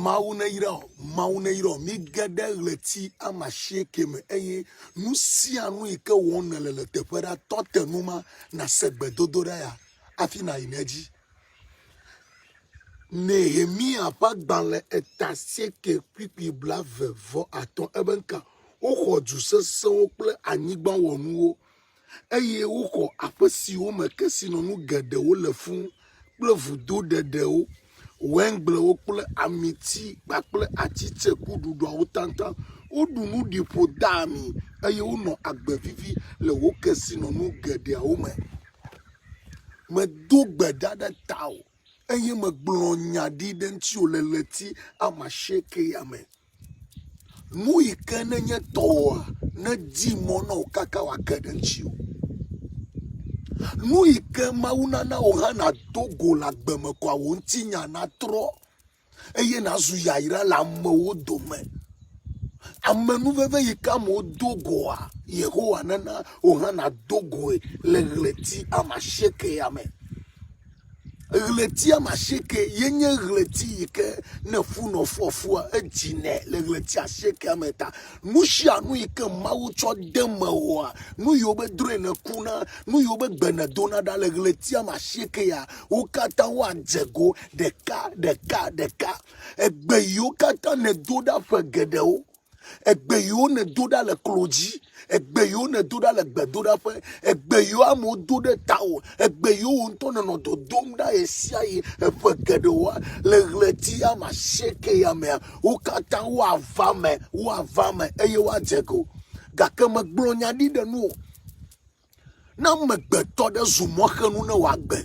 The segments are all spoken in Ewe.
Mawu neyra wò, Mawu neyra wò. Mige ɖe ɣleti ame asieke me eye nu sia nu yi ke wɔm nèle le teƒe ɖa. Tɔ te nu ma nàse gbedodoɖa ya hafi nàyi ɖe edzi. Nehemiya ƒe agbalẽ eta asieke kpukpui blaeve vɔ atɔ̃. Ebe ŋka, Woxɔ du sesẽwo kple anyigba wɔnuwo. eye woxɔ aƒe siwo me kesinɔnu geɖewo le fũ kple vudo ɖeɖewo, waingblewo kple amiti kpakple ati tsekuɖuɖuawo tataŋ. Woɖu nu ɖi ƒo de ami, eye wonɔ agbe vivi le wò kesinɔnu geɖeawo me. Medo gbe ɖa ɖe tawò, eye megblɔ nya ɖi ɖe ŋutiwò le ɣleti amasiekɛa me. Nu yi ke nenye tɔwòa, nedi mɔ na wò kaka wòage ɖe ŋutiwò. Nu yi ke Mawu nana wò hã nàdo go le agbe me koa, wò ŋutinya natrɔ eye nàzu yayra le amewo dome. Amenuveve yi ke amewo do goa, Yehowa nana wò hã nàdo goe le ɣleti ame asiekɛa me. Ɣleti ame asieke ye nye ɣleti yi ke ne fu nɔ fu afua edzinɛ le ɣleti asiekea me ta. Nu sia nu yi ke Mawu tsɔ de eme oa, nu yi wobe drɔ̃e nèkuna, nu yi wobe gbe nèdona ɖa le ɣleti ame asieke ya, wo katã woadze go ɖeka ɖeka ɖeka. Egbe yiwo katã nèdo ɖa ƒe geɖewo. egbe yiwo nèdo ɖa le klo dzi egbe yiwo nèdo ɖa le gbedoɖaƒe egbe yiwo amewo do ɖe tawò egbe yiwo wò ŋutɔ nènɔ dodom ɖa ɣe sia ɣi eƒe geɖewoa le ɣleti ame asieke ya mea wo katã woava eme woava eme eye woadze ego gake megblɔ nya ɖi ɖe nuwò Ne amegbetɔ ɖe zu mɔxenu ne wòagbe,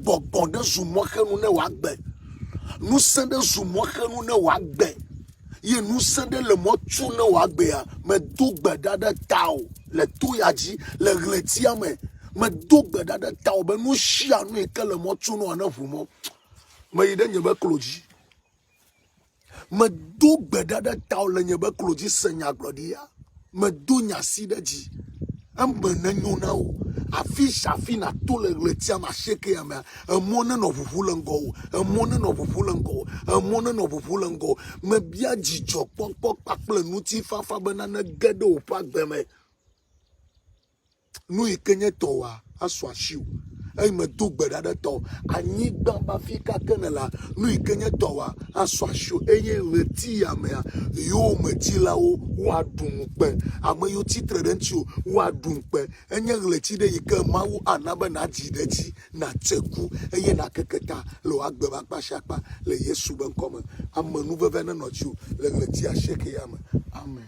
gbɔgbɔ ɖe zu mɔxenu ne wòagbe, ŋusẽ ɖe zu mɔxenu ne wòagbe, ye ŋusẽ ɖe le mɔ tu ne wòagbea, medo gbe ɖa ɖe tawò le to ya dzi le ɣletia me. Medo gbe ɖa ɖe tawò be nu sia nu yi ke le mɔ tu nɔa, neʋu mɔ. Meyi ɖe nye me klo dzi. Medo gbe ɖa ɖe tao le nye be klo dzi se nyagblɔɖia. Medo nya si ɖe dzi. Eme nenyo na wò. Afi sia afi nàto le ɣletia me asiekea mea, emɔ nenɔ ʋuʋu le ŋgɔwò. Emɔ nenɔ ʋuʋu le ŋgɔwò. Emɔ nenɔ ʋuʋu le ŋgɔwò. Mebia dzidzɔkpɔkpɔ kpakple ŋutifafa bena nege ɖe wò ƒe agbe me. nu yi ke nye tɔwòa asu asiwò, eye medo gbe ɖa ɖe tɔwò, anyigba be afi ka ke nèlea, nu yi ke nye tɔwòa asu asiwò, eye ɣletiyamea yowòmedzilawo woaɖu ŋukpe, ame yiwo tsi tre ɖe ŋutiwò woaɖu ŋukpe. Enye ɣleti ɖe yi ke Mawu ana be nàdzi ɖe edzi, nàtse ku, eye nàkeke ta le wò agbe ƒe akpa sia akpa le Yesu be ŋkɔ me. Amenuveve nenɔ dziwò le ɣleti asiekɛa me. Amen.